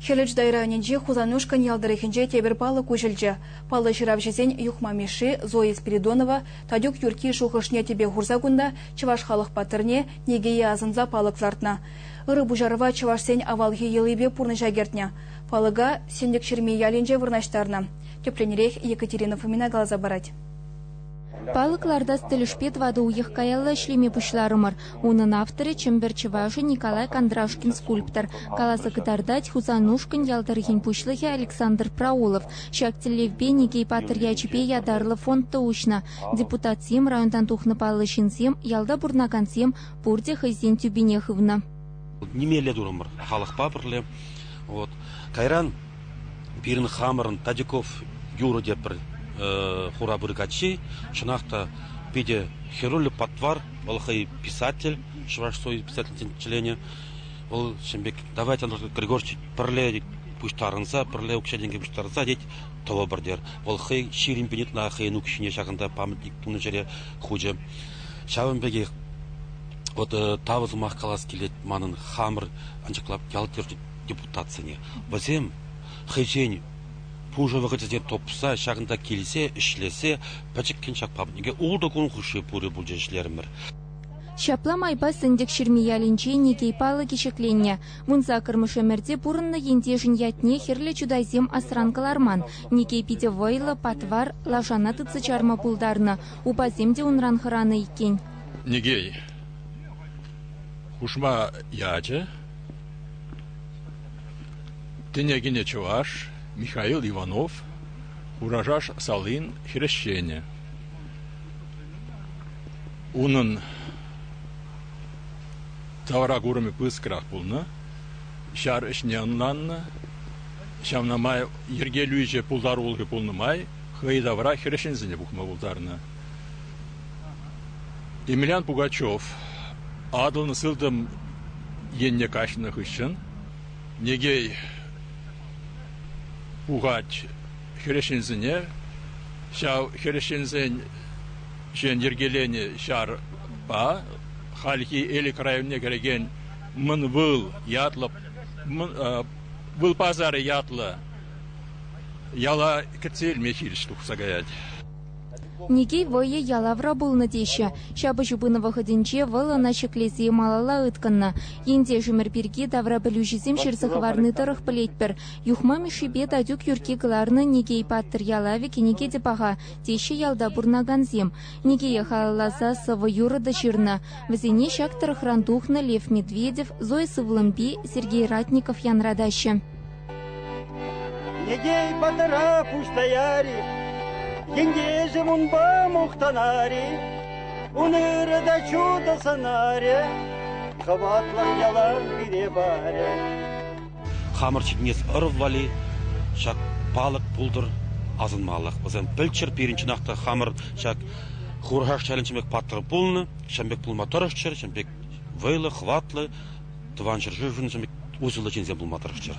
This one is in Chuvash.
Хӗлӗч дай районӗнчи Хусанушкӑнь ял тӑрӑхӗнче тепӗр палӑк уҫӑлчӗ. Паллӑ ҫыравҫӑсен Юхма Мишши, Зоя Спиридонова, Татюк Юркки шухӑшне тӗпе хурса кунта чӑваш халӑх паттӑрне Никее асӑнса палӑк лартнӑ. Ырӑ пуҫарӑва чӑвашсен авалхи йӑлипе пурнӑҫа кӗртнӗ. Палӑка Сӗнтӗкҫырми ялӗнче вырнаҫтарнӑ. Тӗплӗнрех Екатерина Фомина каласа парать. Палӑк лартас тӗлӗшпе тӑватӑ уйӑх каялла ӗҫлеме пуҫларӑмӑр. Унӑн авторӗ Чӗмпӗр чӑвашӗ Николай Кондрашкин скульптор, каласа кӑтартать Хусанушкӑнь ял тӑрӑхӗн пуҫлӑхӗ Александр Праулов. Ҫак тӗллевпе Никей патӑр ячӗпе ятарлӑ фонд та уҫнӑ. Депутатсем, районтан тухнӑ паллӑ ҫынсем, ялта пурӑнакансем пурте хӑйсен тӳпине хывнӑ. Нимелле турӑмӑр халӑхпа пӗрле. Кайран Пирӗн хамӑрӑн Татюков юрӑ тепӗр хурапыр каччи, чӑнах та, питӗ хӗрӳллӗ патвар. Вӑл хӑй писатель, Чӑваш Союз писательсен членӗ. Вӑл ҫын пек, давайте Андрей Григорьевич пӗрле пуҫтарӑнса, пӗрле укҫа-тенкӗ пуҫтарса, тет, тӑвӑпӑр тетер. Вӑл хӑй ҫирӗм пин ытла хӑйӗн укҫине ҫакӑнта памятник тунӑ ҫӗре хучӗ. Ҫавӑн пекех вот тава сӑмах калас килет манӑн хамӑр анчӑклап ял-тӗр депутатсене. Вӗсем хӑйсен пушӑ вӑхӑтӗсене тупса ҫакӑнта килсе ӗҫлесе пӗчӗккӗн ҫак паблике ултӑ кун хушши пурӗ пулчӗ ӗҫлерӗмӗр. Ҫапла майпа Сӗнтӗкҫырми ялӗнче Никей палӑкӗ ҫӗкленнӗ. Вун саккӑрмӗш ӗмӗрте пурӑннӑ ентешӗн ятне хӗрлӗ чутайсем асран кӑларман. Никей питӗ вӑйлӑ, патвар, лашана тытса чарма пултарнӑ. Упасем те унран хӑранӑ иккен. Никей хушма ячӗ Тӗне кӗнӗ чӑваш Михаил Иванов Хурашаш салин хресченӗ. Унӑн тавра курӑмӗ пыскрах пулнӑ, ҫар ӗҫне ӑнланнӑ. Ҫавна май йӗркелӳҫӗ пултарулӑхӗ пулнӑ май хӑй тавра хресченсене пухма пултарнӑ. Емельян Пугачев Атӑлӑн сылтӑм енне каҫнӑ хыҫҫӑн Негей пухать хресченсене. Ҫав хресченсен ҫын йӗркеленӗ ҫарпа хальхи Элӗк районне кӗрекен Мӑн Выл ятлӑ Выл пасарӗ ятлӑ яла кӗтсе илме хирӗҫ тухса каять. Никей вӑйӗ ялавра пулнӑ теҫҫӗ. Ҫапӑҫу пынӑ вӑхӑтӗнче вӑл ӑна ҫӗклесе малалла ыткӑннӑ. Ентешӗмӗр пирки таврапӗлӳҫӗсем ҫырса хӑварни тӑрӑх пӗлетпӗр. Юхма Мишшипе Татюк Юркки кӑларнӑ «Никей паттӑр ялавӗ» кӗнеке те паха, теҫҫӗ ялта пурӑнакансем. Никее халалласа сӑвӑ-юрӑ та ҫырнӑ. Вӗсене ҫак тӑрӑхран тухнӑ Лев Медведев, Зоя Сывлӑмпи, Сергей Ратников янратаҫҫӗ. Недей патӑра пуҫтаяр-и, Ентешӗм унпа мухтанар-и, Ун ырӑ та чудо сӑнарӗ, Хӑватлӑх ялан пире парӗ. Хамӑр ҫитӗнес ӑрӑв валли ҫак палӑк пултӑр асӑнмаллах. Вӗсем пӗлччӗр пирӗн чӑнах та хамӑр ҫак Хурхаш ялӗн ҫын пек паттӑр пулнӑ, ҫын пек пулма тӑрӑшчӑр, ҫын пек вӑйлӑ, хӑватлӑ, Тӑван ҫӗршывшӑн усӑллӑ ҫынсем пулма тӑрӑшчӑр.